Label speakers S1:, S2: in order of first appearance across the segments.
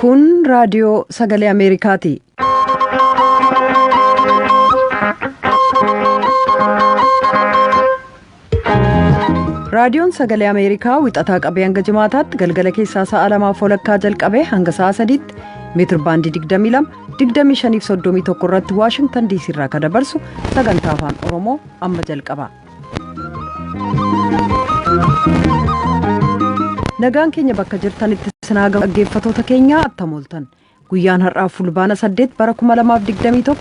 S1: Kun raadiyoo sagalee Ameerikaati. raadiyoon sagalee ameerikaa wixataa qabee hanga jimaataatti galgala keessaa sa'a lamaaf walakkaa jalqabee hanga sa'a sadiitti meetir baandii 22 2531 irratti waashingtan diisii irraa kan dabarsu sagantaa afaan oromoo amma jalqaba. nagaan keenya bakka jirtanitti sinaa dhaggeeffatoota keenyaa attam ooltan Guyyaan har'aa Fulbaana 8 bara 2021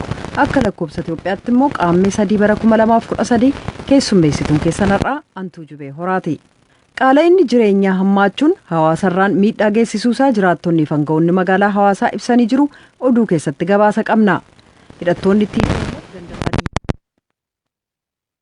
S1: akka lakkoobsa Itoophiyaatti immoo qaammee 3 bara 2013 keessummeessituun keessan har'aa Antuu Jubee Horaati. Qaala'inni jireenyaa hammaachuun hawaasarraan miidhaa geessisuusaa jiraattonnii fi aanga'oonni magaalaa hawaasaa ibsanii jiru oduu keessatti gabaasa qabna. Hidhattoonni TPLF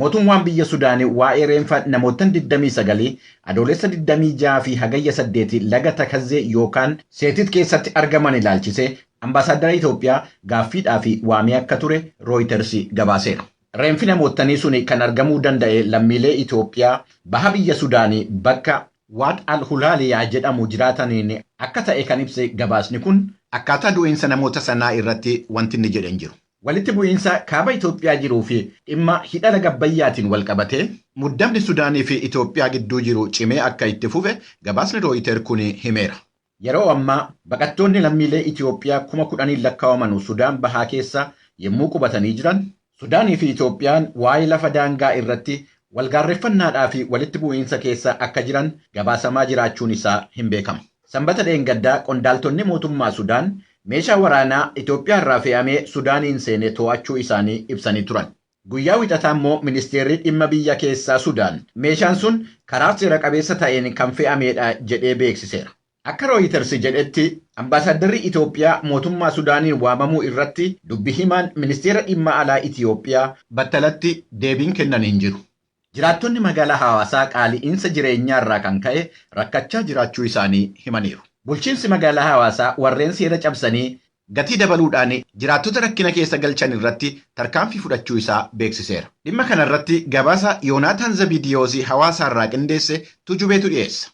S2: Mootummaan biyya Sudaan waa'ee reenfa namoottan 29 Adoolessa 26 fi Hagayya 8 laga Takazzee yookaan Seetit keessatti argaman ilaalchisee Ambaasaaddara Itoophiyaa gaaffiidhaaf waamee akka ture Rooyiters gabaaseera. Reenfi namoottanii suni kan argamuu danda'e lammiilee Itoophiyaa baha biyya Sudaan bakka Waad al-Hulaaliyaa jedhamu jiraataniin akka ta'e kan ibse gabaasni kun, akkaataa du'iinsa namoota sanaa irratti wanti inni jedhe hin jiru. Walitti bu'iinsa Kaaba Itoophiyaa jiruu fi dhimma Hidha Laga Abbayyaatiin walqabatee muddamni Sudaanii fi Itoophiyaa gidduu jiru cimee akka itti fufe gabaasni Rooyiter kun himeera. Yeroo ammaa baqattoonni lammiilee Itoophiyaa kuma kudhaniin lakkaawamanu Sudaan Bahaa keessa yemmuu qubatanii jiran, Sudaanii fi Itoophiyaan waa'ee lafa daangaa irratti walgaarreffannaadhaa fi walitti bu'iinsa keessa akka jiran gabaasamaa jiraachuun isaa hin beekama. Sanbata dheengaddaa qondaaltonni mootummaa Sudaan meeshaa waraanaa Itoophiyaarraa fe'amee Sudaaniin seene to'achuu isaanii ibsanii turan. Guyyaa Wixataa immoo ministeerri dhimma biyya keessaa Sudaan meeshaan sun karaa seera qabeessa ta'een kan fe'ameedha jedhee beeksiseera. Akka Rooyitarsi jedhetti ambaasaaddarri Itoophiyaa mootummaa Sudaaniin waamamuu irratti dubbi himaan ministeera dhimma alaa Itoophiyaa battalatti deebiin kennan hin jiru. Jiraattonni magaalaa Hawaasaa qaali'iinsa jireenyaarraa kan ka'e rakkachaa jiraachuu isaanii himaniiru. Bulchiinsi magaalaa Hawaasaa warreen seera cabsanii gatii dabaluudhaan jiraattota rakkina keessa galchan irratti tarkaanfii fudhachuu isaa beeksiseera. Dhimma kanarratti gabaasa Yoonaataan Zabidiyoos Hawaasaarraa qindeesse Tujubeetu dhiyeessa.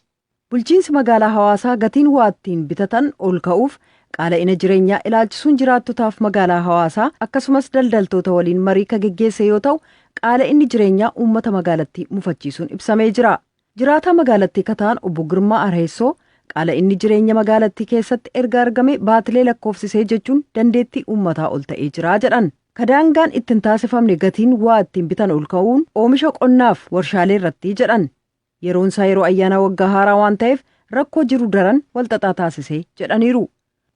S2: Bulchiinsi magaalaa
S1: Hawaasaa gatiin waa ittiin bitatan ol ka'uuf qaala'ina jireenyaa ilaalchisuun jiraattotaaf magaalaa Hawaasaa akkasumas daldaltoota waliin marii ka geggeesse yoo ta'u, qaala'inni jireenyaa uummata magaalattii mufachiisuun ibsamee jira. Jiraataa magaalattii ka ta'an Obbo Girmaa Arheessoo qaala'inni jireenya magaalattii keessatti erga argamee baatilee lakkoofsisee jechuun dandeettii uummataa ol ta'ee jira jedhan. Ka daangaan itti hin taasifamne gatiin waa ittiin bitan ol ka'uun oomisha qonnaaf warshaalee irratti jedhan. Yeroon isaa yeroo ayyaanaa waggaa haaraa waan ta'eef rakkoo jiru daran walxaxaa taasise jedhaniiru.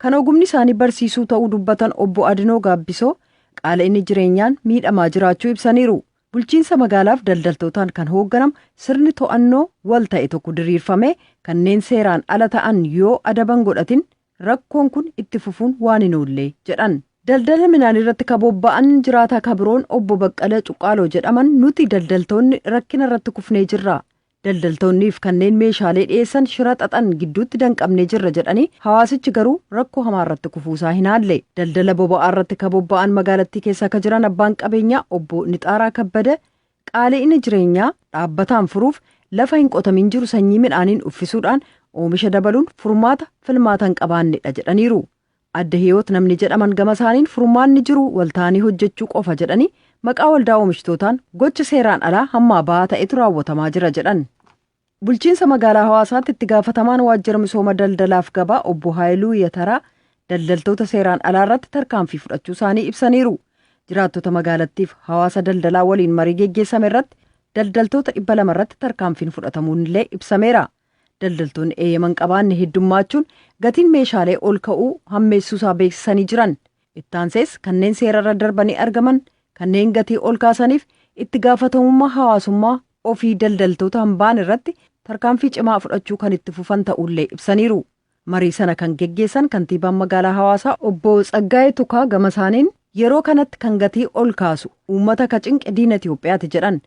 S1: Kan ogumni isaanii barsiisuu ta'uu dubbatan Obbo Adinoo Gaabbisoo qaala'inni jireenyaan miidhamaa jiraachuu ibsaniiru. Bulchiinsa magaalaaf daldaltootaan kan hoogganamu sirni to'annoo wal ta'e tokko diriirfamee kanneen seeraan ala ta'an yoo adaban godhatin rakkoon kun itti fufuun waan hin oolle jedhan. Daldala minaaniirratti ka bobba'an jiraataa ka biroon Obbo Baqqala Cuqqaaloo jedhaman nuti daldaltoonni rakkinarratti kufnee jirra. Daldaltoonniif kanneen meeshaalee dhiyeessan shira xaxan gidduutti danqamnee jirra jedhanii hawaasichi garuu rakkoo hamaarratti kufuusaa hin haalle. Daldala boba'aarratti ka bobba'an magaalattii keessa ka jiran abbaan qabeenyaa Obbo Nixaaraa Kabbada Qaali'ina jireenyaa dhaabbataan furuuf lafa hin qotamin jiru sanyii midhaaniin uffisuudhaan oomisha dabaluun furmaata filmaata hin qabaannedha jedhaniiru. Adde Hiyoot namni jedhaman gama isaaniin furmaanni jiru walta'anii hojjechuu qofa jedhanii maqaa waldaa oomishtootaan gocha seeraan alaa hammaa ba'aa ta'etu raawwatamaa jira jedhan. Bulchiinsa magaalaa Hawaasaatti itti gaafatamaan waajjira misooma daldalaaf gabaa obbo Haayiluu Yataraa daldaltoota seeraan alaa irratti tarkaanfii fudhachuu isaanii ibsaniiru. Jiraattota magaalattiif hawaasa daldalaa waliin marii geggeessame irratti daldaltoota dhibba lama irratti tarkaanfiin fudhatamuun illee ibsameera. Daldaltoonni eeyyaman qabaanne heddummaachuun gatiin meeshaalee ol ka'uu hammeessuu isaa beeksisanii jiran. Ittaansees kanneen seerarra darbanii argaman kanneen gatii ol kaasaniif itti gaafatamummaa hawaasummaa ofii daldaltoota hin baane irratti tarkaanfii cimaa fudhachuu kan itti fufan ta'uullee ibsaniiru. Marii sana kan geggeessan kantiibaan magaalaa Hawaasaa obbo Tsaggaayee Tukaa gama isaaniin yeroo kanatti kan gatii ol kaasu uummata ka cinqe diina Itoophiyaati jedhan.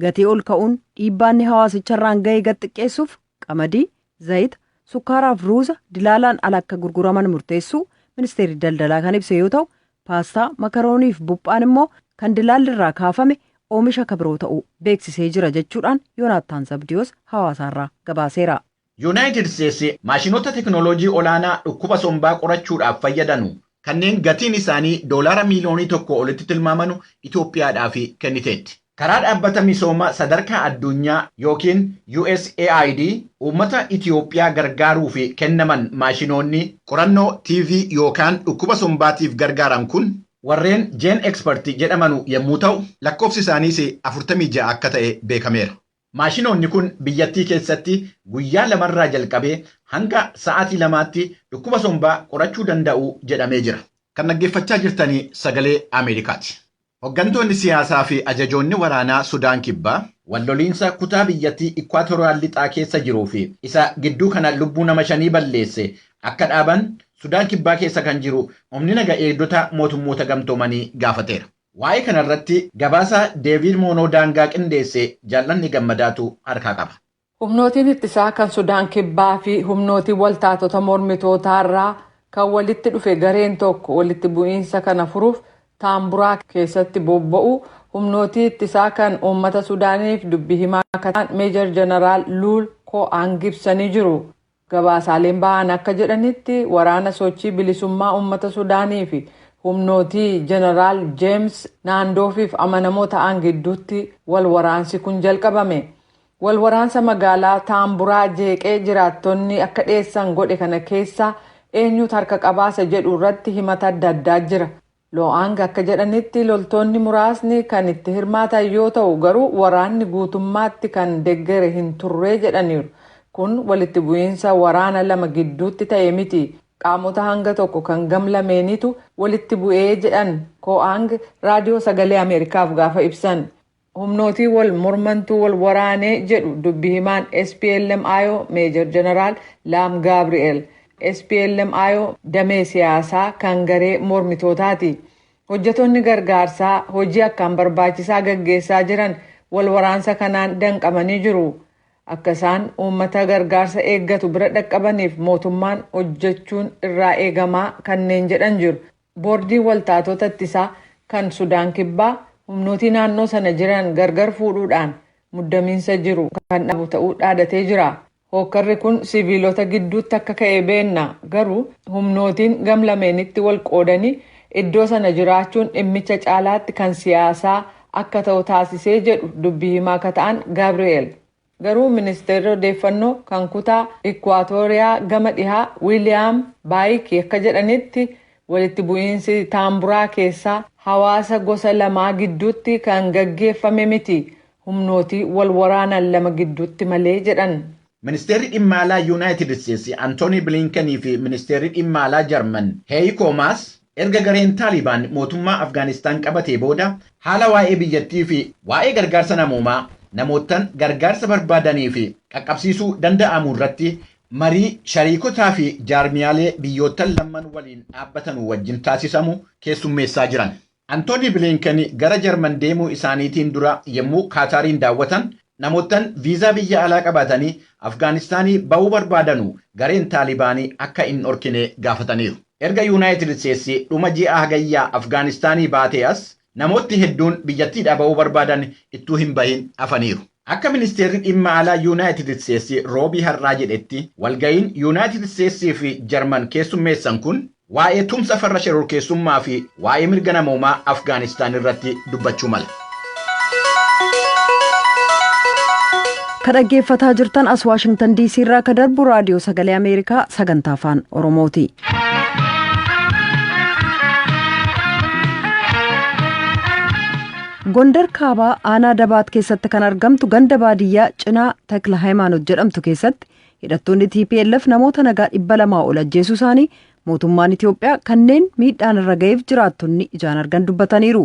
S1: Gatii ol ka'uun dhiibbaa inni hawaasicha irraan ga'e gad xiqqeessuuf qamadii, zayita, sukkaaraaf ruuza dilaalaan ala akka gurguraman murteessuu ministeerri daldalaa kan ibse yoo ta'u, paastaa, makarooniif buphaan immoo kan dilaalli irraa kaafame oomisha ka biroo ta'uu beeksisee jira jechuudhaan Yoonaattaan Zabdiyoos Hawaasaarraa gabaaseera. Yunaayitid Isteetsi
S2: maashinoota teknooloojii olaanaa dhukkuba sombaa qorachuudhaaf fayyadanu kanneen gatiin isaanii doolaara miiliyoonii tokkoo olitti tilmaamanu Itoophiyaadhaaf kenniteetti. Karaa Dhaabbata Misooma Sadarkaa Addunyaa yookiin USAID uummata Itoophiyaa gargaaruuf kennaman maashinoonni qorannoo TB yookaan dhukkuba sombaatiif gargaaran kun, warreen GeneXpert jedhamanu yemmuu ta'u, lakkoofsi isaaniis 46 akka ta'e beekameera. Maashinoonni kun biyyattii keessatti guyyaa lamarraa jalqabee hanga sa'aatii lamaatti dhukkuba sombaa qorachuu danda'u jedhamee jira. Kan dhaggeeffachaa jirtan Sagalee Ameerikaati. Hoggantoonni siyaasaa fi ajajoonni waraanaa Sudaan Kibbaa, wal loliinsa kutaa biyyattii Ikwaatoraal Lixaa keessa jiruu fi isa gidduu kana lubbuu nama shanii balleesse akka dhaaban Sudaan Kibbaa keessa kan jiru Humni Naga Eegdota Mootummoota Gamtoomanii gaafateera. Waa'ee kana irratti gabaasa Deeviid Moonoo Daangaa qindeesse Jaallanne Gammadaatu harkaa qaba. Humnootiin ittisaa
S3: kan Sudaan Kibbaa fi humnootiin waltaatota mormitootaa irraa kan walitti dhufe gareen tokko walitti bu'iinsa kana furuuf Taamburaa keessatti bobba'uu humnootii ittisaa kan uummata Sudaaniif dubbi himaa akka ta'an Meejar Janaraal Luul Koo'aang ibsanii jiru. Gabaasaaleen bahan akka jedhanitti waraana sochii bilisummaa uummata Sudaanii fi humnootii Jeneraal Jeems Naandoofiif amanamoo ta'an gidduutti wal waraansi kun jalqabame. Wal waraansa magaalaa Taamburaa jeeqee jiraattonni akka dheessan godhe kana keessaa eenyuut harka qabaa isa jedhu irratti himata adda addaa jira. Loo'aang akka jedhanitti loltoonni muraasni kan itti hirmaatan yoo ta'u garuu waraanni guutummaatti kan deggere hin turre jedhaniiru. Kun walitti bu'iinsa waraana lama gidduutti ta'e miti. Qaamota hanga tokko kan gam lameeniitu walitti bu'ee jedhan Koo'aang Raadiyoo Sagalee Ameerikaaf gaafa ibsan. Humnootii wal mormantu wal waraane jedhu dubbi himaan SPLM-IO Meejar Jeneraal Laam Gaabri'eel. SPLM-IO damee siyaasaa kan garee mormitootaati. Hojjetoonni gargaarsaa hojii akkaan barbaachisaa gaggeessaa jiran wal waraansa kanaan danqamanii jiru. Akka isaan uummata gargaarsa eeggatu bira dhaqqabaniif mootummaan hojjechuun irraa eegamaa kanneen jedhan jiru. Boordiin waltaatoota ittisaa kan Sudaan Kibbaa humnootii naannoo sana jiran gargar fuudhuudhaan muddamiinsa jiru kan dhaabu ta'uu dhaadatee jira. Hookkarri kun siviilota gidduutti akka ka'e beenna, garuu humnootiin gam lameenitti wal qoodanii iddoo sana jiraachuun dhimmicha caalaatti kan siyaasaa akka ta'u taasisee jedhu dubbi himaa ka ta'an Gabriel. Garuu Ministeerri Odeeffannoo kan kutaa Ikkuwaatooriyaa gama dhihaa Wiiliyaam Baayiki akka jedhanitti, walitti bu'iinsi Taamburaa keessaa hawaasa gosa lamaa gidduutti kan gaggeeffame miti, humnootii wal waraanan lama gidduutti malee jedhan. Ministeerri Dhimma
S2: Alaa Yuunaayitid Isteetsi Antoonii Biliinkenii fi Ministeerri Dhimma Alaa Jarman Heeyikoo Maas Erga gareen Taalibaan mootummaa Afgaanistaan qabatee booda haala waa'ee biyyattii fi waa'ee gargaarsa namoomaa namoottan gargaarsa barbaadaniif qaqqabsiisuu danda'amu irratti marii shariikotaa fi jaarmiyaalee biyyoottan lamman waliin dhaabbatanu wajjin taasisamu keessummeessaa jiran. Antoonii Biliinken gara Jarman deemuu isaaniitiin dura yemmuu Kaataariin daawwatan Namoottan viizaa biyya alaa qabaatanii Afgaanistaanii bahuu barbaadanu gareen Taalibaanii akka hin dhorkine gaafataniiru. Erga Yuunaayitid Isteetsi dhuma ji'a Hagayyaa Afgaanistaanii baatee as namootni hedduun biyyattiidhaa bahuu barbaadan ittuu hin bahin hafaniiru. Akka Ministeerri Dhimma Alaa Yuunaayitid Isteetsi Roobii har'aa jedhetti, walgahiin Yuunaayitid Isteetsii fi Jarman keessummeessan kun, Waa'ee tumsa farra shororkeessummaa fi waa'ee mirga namoomaa Afgaanistaan irratti dubbachuu mala.
S1: Ka dhaggeeffataa jirtan as Waashingtan DC irraa ka darbu raadiyoo sagalee Ameerikaa sagantaa afaan Oromooti. Gondar Kaabaa aanaa Dabaat keessatti kan argamtu ganda baadiyyaa cinaa Takla Hayimaanot jedhamtu keessatti Hidhattoonni tplf namoota nagaa dhibba lamaa ol ajjeesuu isaanii mootummaan Itoophiyaa kanneen miidhaan irra ga'eef jiraattonni ijaan argan dubbataniiru.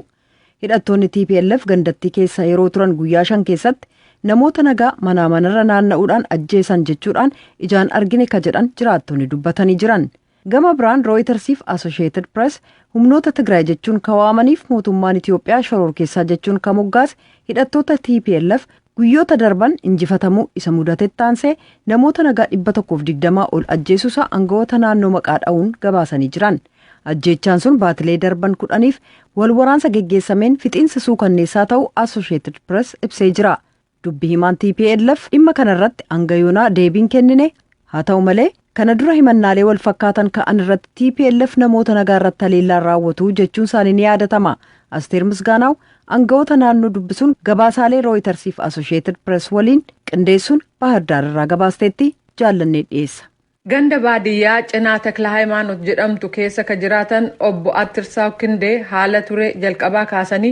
S1: Hidhattoonni tplf gandattii keessa yeroo turan guyyaa shan keessatti namoota nagaa manaa manarra naanna'uudhaan ajjeesan jechuudhaan ijaan argine ka jedhan jiraattonni dubbatanii jiran. Gama biraan Rooyitarsiif Asosheetid Pirees humnoota Tigraay jechuun ka waamaniif mootummaan Itiyoophiyaa shororkeessaa jechuun ka moggaase hidhattoota TPLF guyyoota darban injifatamuu isa mudatetti aansee namoota nagaa 120 ol ajjeesuusaa angawoota naannoo maqaa dha'uun gabaasanii jiran. Ajjeechaan sun baatilee darban kudhaniif wal waraansa geggeessameen fixiinsa suukanneessaa ta'uu Asosheetid Pirees ibsee jira. Dubbi himaan tplf dhimma kana irratti hanga yoonaa deebii hin kennine. Haa ta'u malee, kana dura himannaalee wal fakkaatan ka'an irratti tplf namoota nagaa irratti haleellaa hin raawwatu jechuun isaanii ni yaadatama. Asteer Misgaanaaw aanga'oota naannoo dubbisuun gabaasaalee Rooyitarsiif Asosheetid Pirees waliin qindeessuun Baahirdaar irraa gabaasteetti jaallannee dhiyeessa. Ganda baadiyyaa
S3: Cinaa Taklahaayimaanot jedhamtu keessa ka jiraatan Obbo Attirsaaw Kindee haala ture jalqabaa kaasanii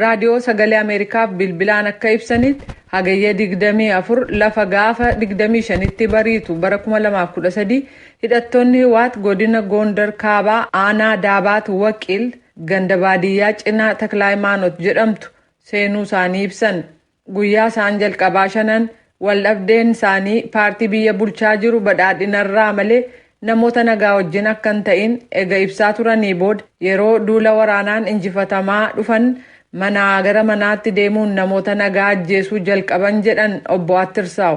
S3: Raadiyoo Sagalee Ameerikaaf bilbilaan akka ibsanitti, Hagayya 24 lafa gaafa 25tti bariitu bara 2013 hidhattoonni Hiwaat godina Goondar Kaabaa aanaa Daabaat Waqiil ganda baadiyyaa Cinaa Taklaayimaanot jedhamtu seenuu isaanii ibsan. Guyyaa isaan jalqabaa shanan waldhabdeen isaanii paartii biyya bulchaa jiru badhaadhinarraa malee namoota nagaa wajjin akka hin ta'in ega ibsaa turanii booda yeroo duula waraanaan injifatamaa dhufan manaa gara manaatti deemuun namoota nagaa ajjeesuu jalqaban jedhan Obbo Attirsaaw.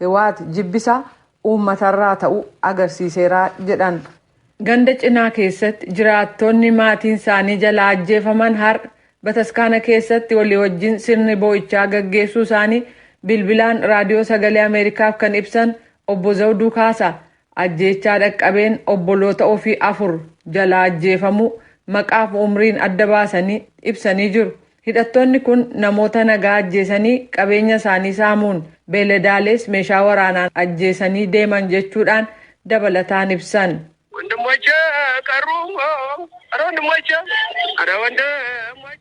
S3: Hiwaat jibbisa uummatarraa ta'u agarsiiseera jedhan. Ganda Cinaa keessatti jiraattonni maatiin isaanii jalaa ajjeefaman har'a bataskaana keessatti walii wajjin sirni boo'ichaa gaggeessuu isaanii bilbilaan Raadiyoo Sagalee Ameerikaaf kan ibsan Obbo Zawduu Kaasa, ajjeechaa dhaqqabeen obboloota ofii afur jalaa ajjeefamuu maqaaf umriin adda baasanii ibsanii jiru. Hidhattoonni kun namoota nagaa ajjeesanii qabeenya isaanii saamuun beeladaalees meeshaa waraanaan ajjeesanii deeman jechuudhaan dabalataan ibsan.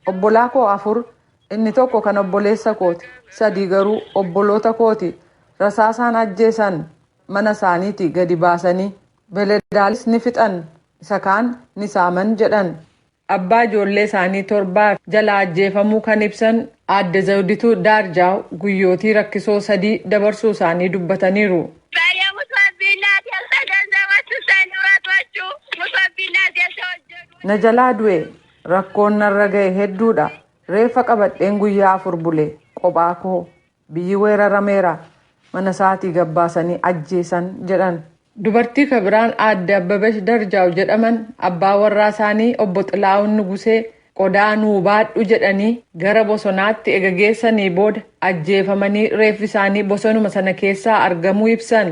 S3: Obbolaa koo afur, inni tokko kan obboleessa kooti, sadii garuu obboloota kooti. Rasaasaan ajjeesan. Mana isaaniitii gadi baasanii. Beeladaalees ni fixan. Isa kaan ni saaman, jedhan. Abbaa ijoollee isaanii torbaa jalaa ajjeefamuu kan ibsan Aadde Zawudituu Daarjaaw guyyootii rakkisoo sadii dabarsuu isaanii dubbataniiru. Na jalaa du'e, rakkoon narra gahe hedduudha. Reeffa qabadheen guyyaa afur bule, qophaa koo. Biyyi weerarameera. Mana isaatii gad baasanii ajjeesan jedhan. Dubartii ka biraan Aadde Abbabesh Darjaaw jedhaman abbaa warraa isaanii Obbo Xilaahun Nugusee qodaa nuu baadhu jedhanii gara bosonaatti ega geessanii booda ajjeefamanii reeffi isaanii bosonuma sana keessaa argamuu ibsan.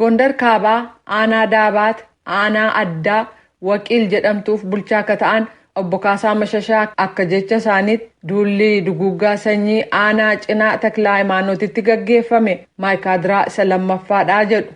S3: Gondar Kaabaa aanaa Daabaat aanaa addaa Waqiil jedhamtuuf bulchaa akka ta'an Obbo Kaasaa Mashashaa akka jecha isaaniitti duulli duguuggaa sanyii aanaa Cinaa Taklahaayimaanootitti gaggeeffame Maaykaadraa isa lammaffaadha jedhu.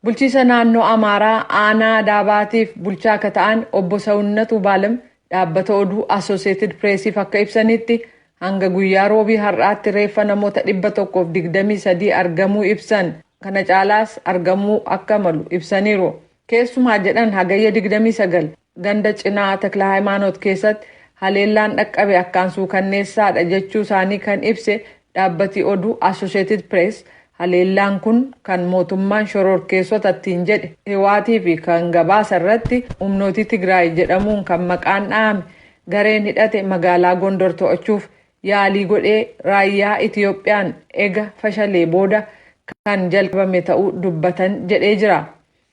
S3: Bulchiisa naannoo Amaaraa aanaa Daabaatiif bulchaa akka ta'an Obbo Sawunnat Wubaalem Dhaabbata oduu Associated Press'f akka ibsanitti, hanga guyyaa Roobii har'aatti reeffa namoota 123 argamuu ibsan, kana caalaas argamuu akka malu ibsaniiru. Keessumaa jedhan Hagayya 29 ganda Cinaa Taklahaymaanot keessatti haleellaan dhaqqabe akkaan suukanneessaadha jechuu isaanii kan ibse Dhaabbati oduu Associated Press haleellaan kun kan mootummaan shororkeessota ittiin jedhe Hiwaatii fi kan gabaasa irratti humnootii Tigraay jedhamuun kan maqaan dhahame gareen hidhate magaalaa Gondor to'achuuf yaalii godhee raayyaa Itiyoophiyaan ega fashalee booda kan jalqabame ta'uu dubbatan jedhee jira.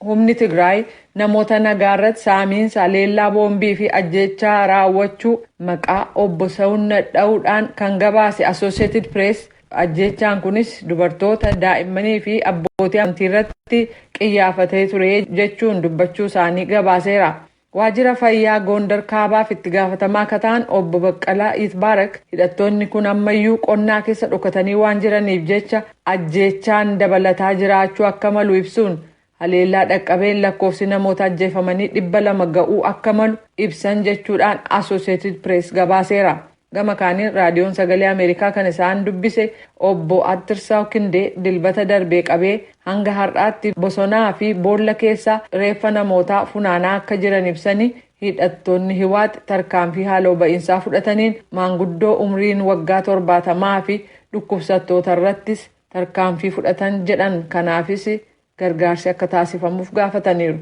S3: Humni Tigraay namoota nagaarratti saamiinsa, haleellaa boombii fi ajjeechaa raawwachuu maqaa Obbo Sewunnat dha'uudhaan kan gabaase Associated Press, ajjeechaan kunis dubartoota, daa'immanii fi abbootii amantiirratti qiyyaafatee ture jechuun dubbachuu isaanii gabaaseera. Waajjira Fayyaa Goondar Kaabaaf itti gaafatamaa ka ta'an Obbo Baqqalaa Yitbaarak hidhattoonni kun ammayyuu qonnaa keessa dhokatanii waan jiraniif jecha ajjeechaan dabalataa jiraachuu akka malu ibsuun, haleellaa dhaqqabeen lakkoofsi namoota ajjeefamanii 200 ga'uu akka malu ibsan jechuudhaan Associated Press gabaaseera. Gama kaaniin Raadiyoon Sagalee Ameerikaa kan isaan dubbise obbo Attirsaw Kindee Dilbata darbee qabee hanga har'aatti bosonaa fi boolla keessaa reeffa namootaa funaanaa akka jiran ibsanii hidhattoonni Hiwaat tarkaanfii haaloo ba'iinsaa fudhataniin maanguddoo umriin waggaa torbaatamaa fi dhukkubsattoota irrattis tarkaanfii fudhatan jedhan kanaafis gargaarsi akka taasifamuuf gaafataniiru.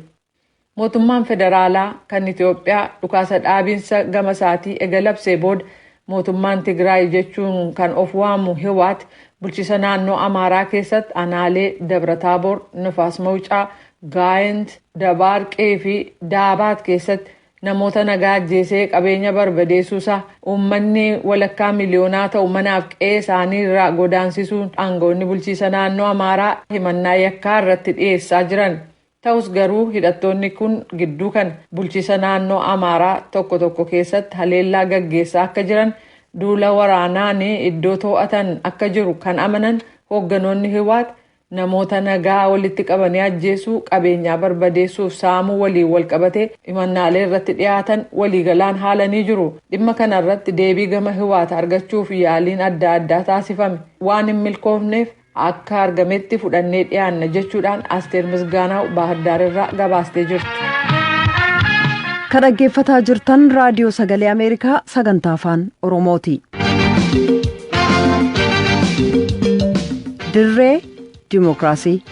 S3: Mootummaan federaalaa kan Itoophiyaa dhukaasa dhaabinsa gama isaatii ega labsee booda mootummaan Tigraay jechuun kan of waamu Hiwaat bulchisa naannoo Amaaraa keessatti anaalee Dabrataaboor, Nifaas Mawucaa, Gaayent, Dabaarqii fi Daabaat keessatti namoota nagaa ajjeesee qabeenya barbadeessuusaa uummanni walakkaa miliyoonaa ta'u manaaf qe'ee isaanii irraa godaansisuun aangawoonni bulchiisa naannoo Amaaraa himannaa yakkaa irratti dhiyeessaa jiran. Tahus garuu hidhattoonni kun gidduu kana bulchiisa naannoo Amaaraa tokko tokko keessatti haleellaa gaggeessaa akka jiran, duula waraanaan iddoo too'atan akka jiru kan amanan hoogganoonni Hiwaat, namoota nagaa walitti qabanii ajjeesuu, qabeenyaa barbadeessuuf saamuu waliin walqabatee himannaalee irratti dhiyaatan waliigalaan haalanii jiru. Dhimma kana irratti deebii gama Hiwaat argachuuf yaaliin adda addaa taasifame waan hin milkoofneef, akka argametti fudhannee dhiyaanna jechuudhaan Asteer Misgaanaaw Baahirdaar irraa gabaastee jirti.
S1: Kan dhaggeeffataa jirtan raadiyoo sagalee Ameerikaa sagantaa afaan Oromooti. Dirree Dimookiraasii.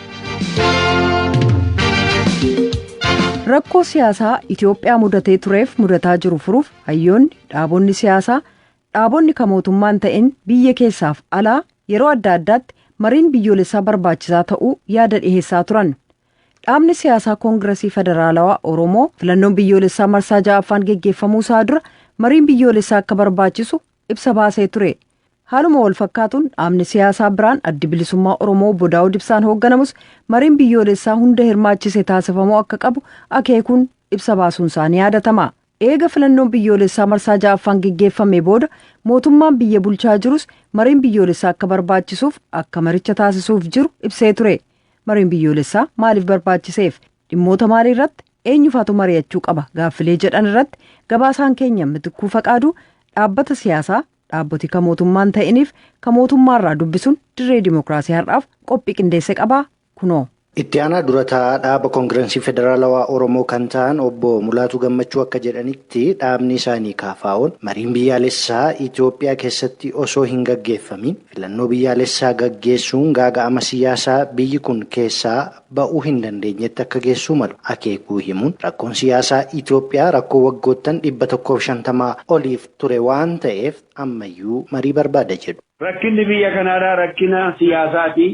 S1: Rakkoo siyaasaa Itoophiyaa mudatee tureef mudataa jiru furuuf hayyoonni dhaabonni siyaasaa Dhaabonni ka mootummaa hin ta'in biyya keessaaf alaa yeroo adda addaatti mariin biyyoolessaa barbaachisaa ta'uu yaada dhiheessaa turan. Dhaabni siyaasaa Koongirasii Federaalawaa Oromoo filannoon biyyoolessaa marsaa 6ffaan geggeeffamuu isaa dura mariin biyyoolessaa akka barbaachisu ibsa baasee ture. Haaluma wal fakkaatuun dhaabni siyaasaa biraan Addi Bilisummaa Oromoo Obbo Daawud Ibsaan hoogganamus mariin biyyoolessaa hunda hirmaachise taasifamuu akka qabu akeekuun ibsa baasuun isaa ni yaadatama. Eega filannoon biyyoolessaa marsaa 6ffaan geggeeffamee booda mootummaan biyya bulchaa jirus mariin biyyoolessaa akka barbaachisuuf akka maricha taasisuuf jiru ibsee ture. Mariin biyyoolessaa maaliif barbaachiseef? Dhimmoota maalii irratti? Eenyufaatu mari'achuu qaba? Gaaffilee jedhan irratti gabaasaan keenya Mitikkuu Faqaaduu dhaabbata siyaasaa dhaabboti ka mootummaa hin ta'iniif ka mootummaarraa dubbisuun dirree dimokiraasii har'aaf qophii qindeesse qabaa kunoo. Itti aanaa dura
S4: taa'aa dhaaba Kongiransii Federaalawaa Oromoo kan ta'an obbo Mulaatuu Gammachuu akka jedhanitti dhaabni isaanii KFOn mariin biyyaalessaa Itoophiyaa keessatti osoo hin gaggeeffamiin filannoo biyyaalessaa gaggeessuun gaaga'ama siyaasaa biyyi kun keessaa ba'uu hin dandeenyetti akka geessuu malu akeekuu himuun rakkoon siyaasaa Itoophiyaa rakkoo waggoottan 150 oliif ture waan ta'eef ammayyuu marii barbaada jedhu. Rakkinni biyya
S5: kanaadhaa rakkina siyaasaati.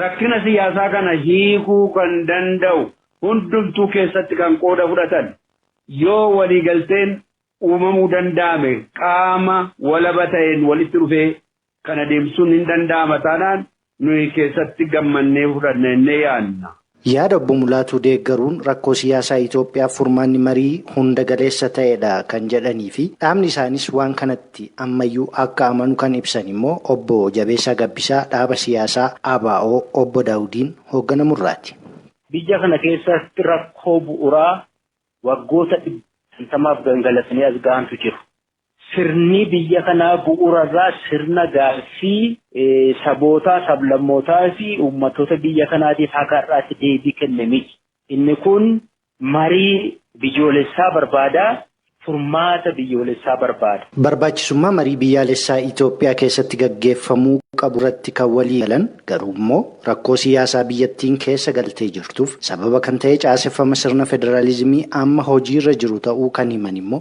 S5: Rakkina siyaasaa kana hiikuu kan danda'u hundumtuu keessatti kan qooda fudhatan yoo waliigalteen uumamuu danda'ame qaama walaba ta'een walitti dhufee kana deemsisuun hin danda'ama taanaan nuyi keessatti gammannee fudhanna jennee yaadna. Yaada Obbo Mulaatuu
S4: deeggaruun rakkoo siyaasaa Itoophiyaaf furmaanni marii hunda galeessa ta'edha kan jedhaniifi dhaabni isaaniis waan kanatti ammayyuu akka amanu kan ibsan immoo Obbo Jabeessaa Gabbisaa dhaaba siyaasaa ABO Obbo Daawudiin hoogganamurraati. Biyya kana
S6: keessatti rakkoo bu'uraa waggoota dhibba shantamaaf gangalatanii as gahantu jiru. Sirni biyya kanaa bu'uura irraa sirna gaaffii sabootaa, sablammootaa fi uummattoota biyya kanaatiif haga har'aatti deebii kenne miti. Inni kun marii biyyoolessaa barbaada, furmaata biyyoolessaa barbaada. Barbaachisummaa marii
S4: biyyaalessaa Itoophiyaa keessatti gaggeeffamuu qabu irratti kan walii galan garuu immoo rakkoo siyaasaa biyyattiin keessa galtee jirtuuf sababa kan ta'e caaseffama sirna federaalizimii amma hojiirra jiru ta'uu kan himan immoo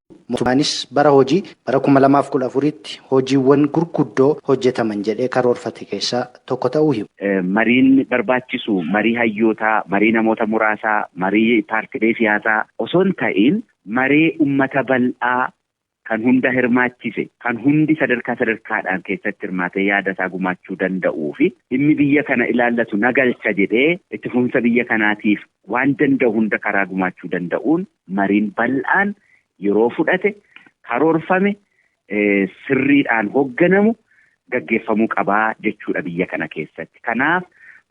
S4: Mootummaanis bara hojii bara 2014tti hojiiwwan gurguddoo hojjetaman jedhee karoorfate keessaa tokko ta'uu himu. Mariin
S7: barbaachisu marii hayyootaa, marii namoota muraasaa, marii paartilee siyaasaa osoo hin ta'iin maree ummata bal'aa kan hunda hirmaachise, kan hundi sadarkaa sadarkaadhaan keessatti hirmaatee yaada isaa gumaachuu danda'uu fi dhimmi biyya kana ilaallatu na galcha jedhee itti fufinsa biyya kanaatiif waan danda'u hunda karaa gumaachuu danda'uun mariin bal'aan yeroo fudhate karoorfame sirriidhaan hogganamu gaggeeffamuu qabaa jechuudha biyya kana keessatti. Kanaaf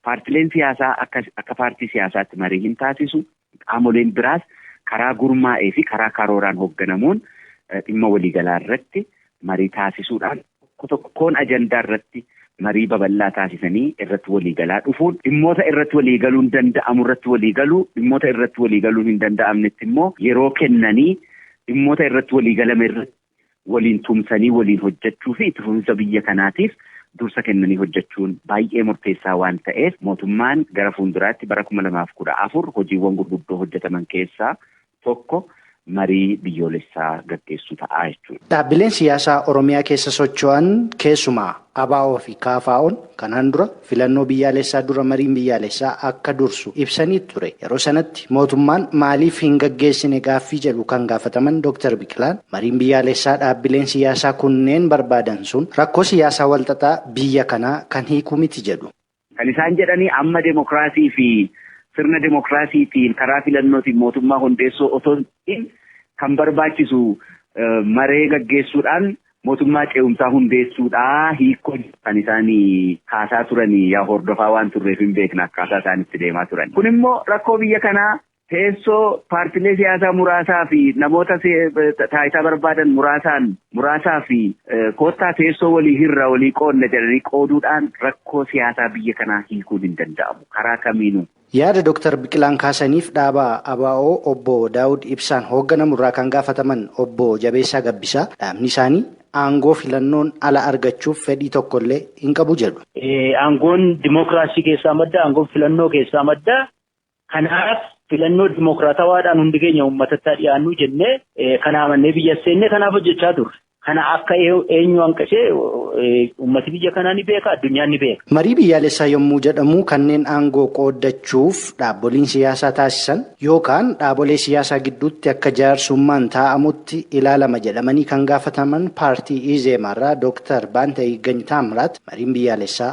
S7: paartileen siyaasaa akka akka paartii siyaasaatti marii hin taasisu. Qaamoleen biraas karaa gurmaa'ee fi karaa karooraan hogganamuun dhimma waliigalaa irratti marii taasisuudhaan Tokko tokkoon ajandaa irratti marii babal'aa taasisanii irratti walii galaa dhufuun dhimmoota irratti walii galuun danda'amu irratti walii galuu, dhimmoota irratti walii galuun hin danda'amnetti immoo yeroo kennanii dhimmoota irratti walii galame irratti waliin tumsanii waliin hojjechuu fi itti fufinsa biyya kanaatiif dursa kennanii hojjechuun baay'ee murteessaa waan ta'eef mootummaan gara fuulduraatti bara 2014 hojiiwwan gurguddoo hojjetaman keessaa tokko marii biyyoolessaa gaggeessuu ta'a jechuudha. Dhaabbileen siyaasaa
S4: Oromiyaa keessa socho'an keessumaa ABO fi KFOn kanaan dura filannoo biyyaalessaa dura mariin biyyaalessaa akka dursu ibsanii ture. Yeroo sanatti mootummaan maaliif hin gaggeessine gaaffii jedhu kan gaafataman Dooktar Biqilaan mariin biyyaalessaa dhaabbileen siyaasaa kunneen barbaadan sun rakkoo siyaasaa walxaxaa biyya kanaa kan hiiku miti jedhu. Kan isaan jedhani
S7: amma demokraasii fi sirna demokraasiitiin karaa filannootiin mootummaa hundeessuu otoo hin ta'iin kan barbaachisu maree gaggeessuudhaan mootummaa ce'umsaa hundeessuudha hiikkoo jedhu kan isaan kaasaa turani yaa hordofaa waan turreef hin beekna akkaataa isaan itti deemaa turan. Kun immoo rakkoo biyya kanaa Teessoo paartilee siyaasaa muraasaa fi namoota taayitaa barbaadan muraasaan muraasaa fi koottaa teessoo walii hirra walii qoodna jedhanii qooduudhaan rakkoo siyaasaa biyya kanaa hiikuun hin danda'amu karaa kamiinuu. Yaada Doktar
S4: Biqilaan kaasaniif dhaaba ABO Obbo Daawud Ibsaan hoogganamu irraa kan gaafataman Obbo Jabeessaa Gabbisaa, dhaabni isaanii aangoo filannoon ala argachuuf fedhii tokko illee hin qabu jedhu. Aangoon
S6: dimookiraasii keessaa madda, aangoon filannoo keessaa madda. Kanaaf filannoo dimookiraatawaadhaan hundi keenya uummatatti haa dhiyaannu jennee kan amannee biyya seennee kanaaf hojjechaa turre. Kana akka eenyu hanqisee uummati biyya kanaa ni beeka addunyaan ni beeka. Marii biyyaalessaa yommuu
S4: jedhamu kanneen aangoo qooddachuuf dhaaboliin siyaasaa taasisan yookaan dhaabolee siyaasaa gidduutti akka jaarsummaan taa'amutti ilaalama jedhamanii kan gaafataman paartii Izeemaarraa Dooktar Baantayiggany Taamiraat mariin biyyaalessaa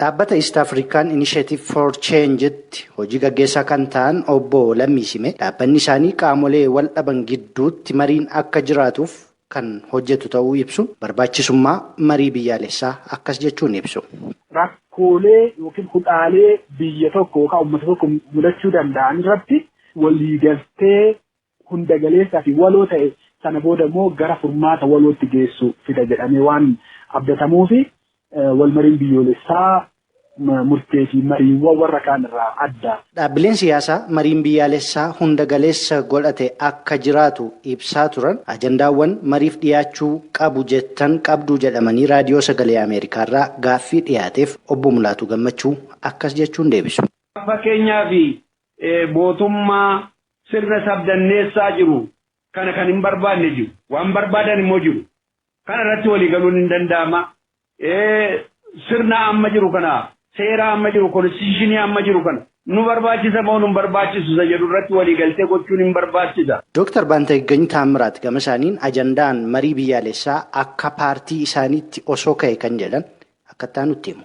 S8: Dhaabbata
S4: East African Initiative for Change'tti hojii gaggeessaa kan ta'an obbo Lammii Simee dhaabbanni isaanii qaamolee wal dhaban gidduutti mariin akka jiraatuuf kan hojjetu ta'uu ibsuun barbaachisummaa marii biyyaalessaa akkas jechuun ibsu. Rakkoolee
S9: yookiin hudhaalee biyya tokko yookaan uummata tokko mudachuu danda'an irratti waliigaltee hunda galeessaa fi waloo ta'e sana booda immoo gara furmaata walootti geessu fida jedhamee waan abdatamuufi walmariin biyyoolessaa murtee fi mariiwwan warra kaan irraa adda. Dhaabbileen siyaasaa
S4: mariin biyyaalessaa hunda galeessa godhate akka jiraatu ibsaa turan ajandaawwan mariif dhiyaachuu qabu jettan qabduu jedhamanii Raadiyoo Sagalee Ameerikaarraa gaaffii dhiyaateef Obbo Mulaatuu Gammachuu akkas jechuun deebisu. Fakkeenyaaf,
S5: mootummaa Sirna sabdanneessaa jiru kana kan hin barbaanne jiru. Waan barbaadan immoo jiru. Kana irratti walii galuun hin danda'ama. Sirna amma jiru kana, seera amma jiru, konstitushinii amma jiru kana nu barbaachisa moo nu hin barbaachisu isa jedhu irratti walii galtee gochuun hin barbaachisa. Dooktar Baantaggany
S4: Taammiraat gama isaaniin ajandaan marii biyyaalessaa akka paartii isaaniitti osoo ka'e kan jedhan akka itti aanutti himu.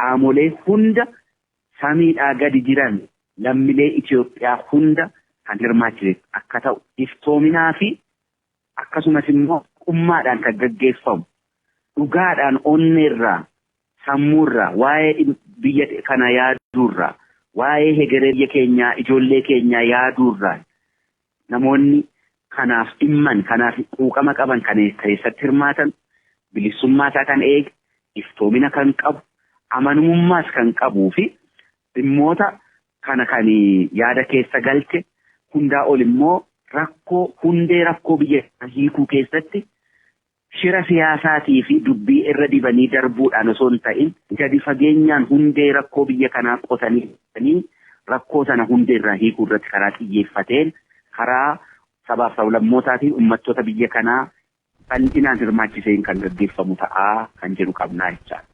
S7: Qaamolee hunda samiidhaa gadi jiran lammilee Itiyoophiyaa hunda kan hirmaachise akka ta'u iftoominaa fi akkasumas immoo haqummaadhaan kan gaggeeffamu dhugaadhaan onneerraa sammuurraa waa'ee biyya kana yaaduurraa waa'ee hegeree biyya keenyaa ijoollee keenyaa yaaduurraan Namoonni kanaaf dhimman, kanaaf quuqama qaban kan keessatti hirmaatan, bilisummaa isaa kan eege, iftoomina kan qabu, amanumummaas kan qabuu fi dhimmoota kana kan yaada keessa galche hundaa ol immoo rakkoo hundee rakkoo biyya hiikuu keessatti Shira siyaasaatii fi dubbii irra dibanii darbuudhaan osoo hin ta'in gadi fageenyaan hundee rakkoo biyya kanaa qotanii baasanii rakkoo sana hundee irraa hiikuu irratti karaa xiyyeeffateen karaa sabaaf sablammootaa fi ummattoota biyya kanaa bal'inaan hirmaachiseen kan gaggeeffamu ta'a kan jedhu qabna jechaadha.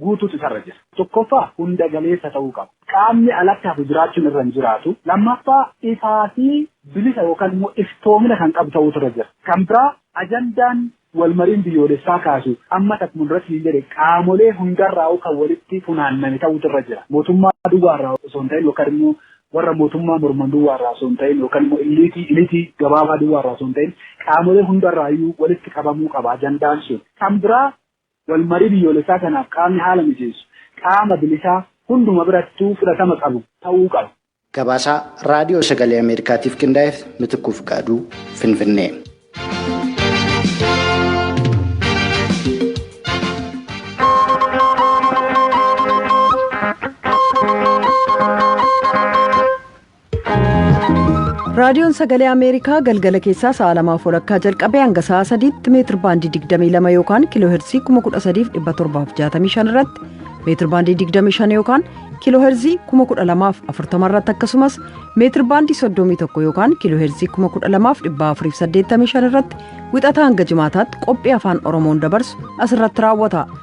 S9: guutuutu isarra jira. Tokkoffaa hunda galeessa ta'uu qaba. Qaamni alatti hafu jiraachuun irra hin jiraatu. Lammaffaa ifaa fi bilisa yookaan immoo iftoomina kan qabu ta'uutu irra jira. Kan biraa ajandaan walmariin biyyoolessaa kaasu ammas akkuma duratti siin jedhe qaamolee hundarraa'uu kan walitti funaanname ta'uutu irra jira. Mootummaa duwwaarraa osoo hin ta'in yookaan immoo warra mootummaa morman duwwaarraa osoo hin ta'in yookaan immoo illiitii ilitii gabaabaa duwwaarraa osoo hin ta'in qaamolee hundarraayyuu walitti qabamuu qaba ajandaan sun. Kan biraa Walmarii biyyoolessaa kanaaf qaamni haala mijeessu qaama bilisaa hunduma birattuu fudhatama qabu ta'uu qaba. Gabaasa
S4: Raadiyoo Sagalee Ameerikaatiif qindaa'eef Mitikkuu Fiqaaduu, Finfinnee.
S1: raadiyoon sagalee ameerikaa galgala keessaa sa'a lamaaf walakkaa jalqabee hanga sa'a sadiitti meetir baandii 22 yookaan kiiloo heerzii 13765 irratti meetir baandii 25 yookaan kiiloo heerzii 12040 irratti akkasumas meetir baandii 31 yookaan kiiloo heerzii 12485 irratti wixataa hanga jimaataatti qophii afaan oromoon dabarsu asirratti raawwata